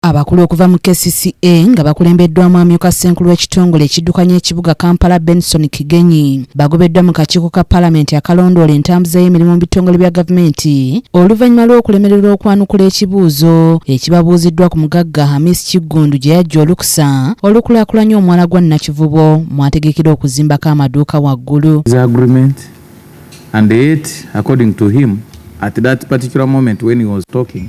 Abakulu okuva mu KCCA nga bakulembeddwamu amyuka ssenkulu w'ekitongole ekiddukanya ekibuga Kampala Benson Kigenyi bagobeddwa mu kakiiko ka palamenti akalondoola entambuza y'emirimu mu bitongole bya gavumenti oluvannyuma lw'okulemererwa okwanukula ekibuuzo ekibabuuziddwa ku mugagga Hamis Kiggundu gye yajja olukusa olukulaakulanya omwala gwa Nakivubo mwategekera okuzimbako amaduuka waggulu And yet, according to him, at that particular moment when he was talking,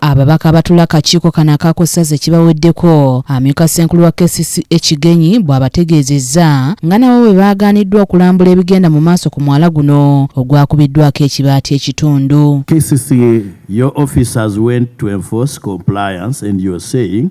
Ababaka abatula akakiiko kano akaako ssaza ekibaweddeko amyuka ssenkulu wa KCCA Kigenyi bw'abategeezezza nga nabo bwe baagaaniddwa okulambula ebigenda mu maaso ku mwala guno ogwakubiddwako ekibaati ekitundu. KCCA, your officers went to enforce compliance and you're saying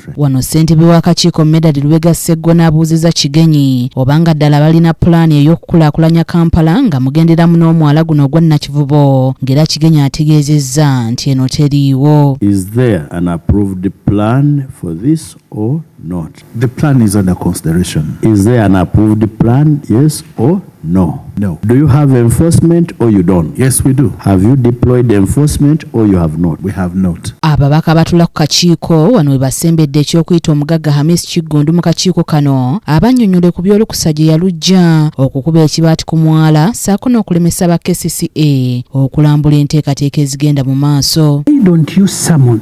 Wano ssentebe w'akakiiko Medard Lubega Sseggona abuuzizza Kigenyi oba nga ddala balina pulaani ey'okukulaakulanya Kampala nga mugenderamu n'omwala guno ogwa Nakivubo ng'era Kigenyi ategeezezza nti eno teriiwo. Is there an approved plan for this or not? The plan is under consideration. Is there an approved plan, yes or No. No. Do you have enforcement or you don't? Yes, we do. Have you deployed enforcement or you have not? We have not. Ababaka batula ku kakiiko wano we basembedde eky'okuyita omugagga Hamis Kiggundu mu kakiiko kano abannyonnyole ku by'olukusa gye yalujja okukuba ekibaati ku mwala saako n'okulemesa ba KCCA okulambula enteekateeka ezigenda mu maaso. Why don't you summon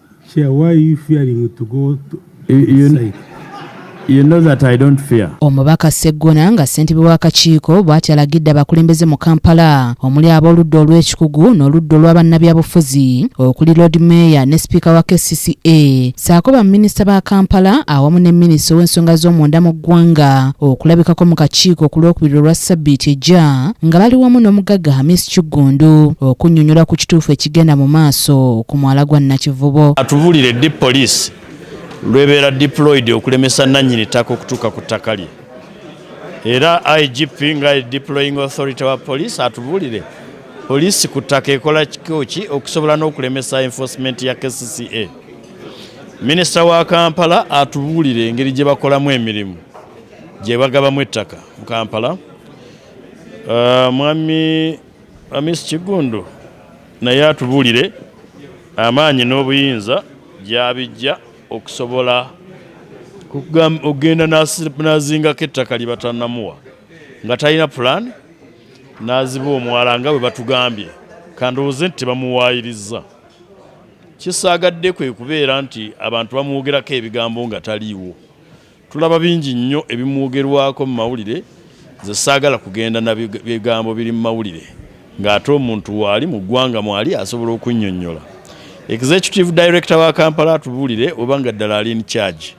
Chair, why are you fearing to go to site? You know that I don't fear. Omubaka Seggona nga ssentebe w'akakiiko bw'ati alagidde abakulembeze mu Kampala omuli ab'oludda olw'ekikugu n'oludda olwa bannabyabufuzi okuli Lord Mayor ne sipiika wa KCCA ssaako baminisita ba Kampala awamu ne minisita ow'ensonga z'omunda mu ggwanga okulabikako mu kakiiko ku lwokubiri olwa ssabbiiti ejja nga bali wamu n'omugagga Hamis Kiggundu okunnyonnyola ku kituufu ekigenda mu maaso ku mwala gwa Nakivubo. Atubulire ddi poliisi lwebeera deployed okulemesa nannyini ttaka okutuuka ku ttaka lye era igp nga deploying authority wa poliisi atubulire poliisi ku ttaka ekola kikoki okusobola n'okulemesa enforcement ya kcca minisita wa kampala atubulire engeri gye bakolamu emirimu gye bagabamu ettaka mu kampala uh, mwami Amisi Kiggundu naye atubuulire amaanyi n'obuyinza gy'abijja okusobola okugenda n'azingako ettaka lye batannamuwa nga talina pulaani n'aziba omwala nga bwe batugambye kandowooze nti tebamuwaayirizza kisaagadde kwe kubeera nti abantu bamwogerako ebigambo nga taliiwo Tulaba bingi nnyo ebimwogerwako mu mawulire nze ssaagala kugenda na bigambo biri mu mawulire ng'ate omuntu waali mu ggwanga mwali asobola okunnyonnyola. Executive Director wa Kampala atubuulire oba nga ddala ali in charge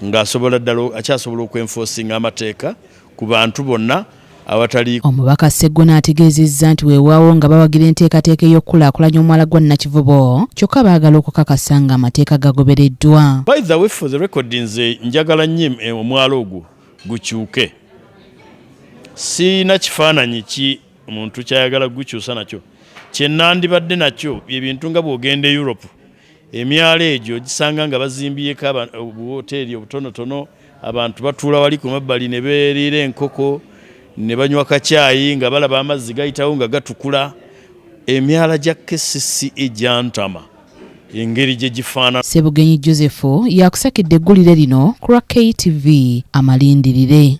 ng'asobola ddala akyasobola okwenfoosinga amateeka ku bantu bonna awatali omubaka Seggona ategeezezza nti weewaawo nga bawagira enteekateeka ey'okukulaakulanya omwala gwa Nakivubo kyokka baagala okukakasa nga amateeka gagobereddwa. By the way for the record nze njagala nnyo eh, omwala ogwo gukyuke. Sirina kifaananyi ki muntu kyayagala kugukyusa nakyo. Kye nandibadde nakyo bye bintu nga bw'ogenda e Europe Emyala egyo ogisanga nga bazimbyeko obuwooteeri obutonotono, abantu batuula wali ku mabbali ne beeriira enkoko ne banywa kacaayi nga balaba amazzi gayitawo nga gatukula. Emyala gya kcca gyantama engeri gye gifaanana. Ssebugenyi Joseph y'akusakidde eggulire lino ku lwa KTV. Amalindirire.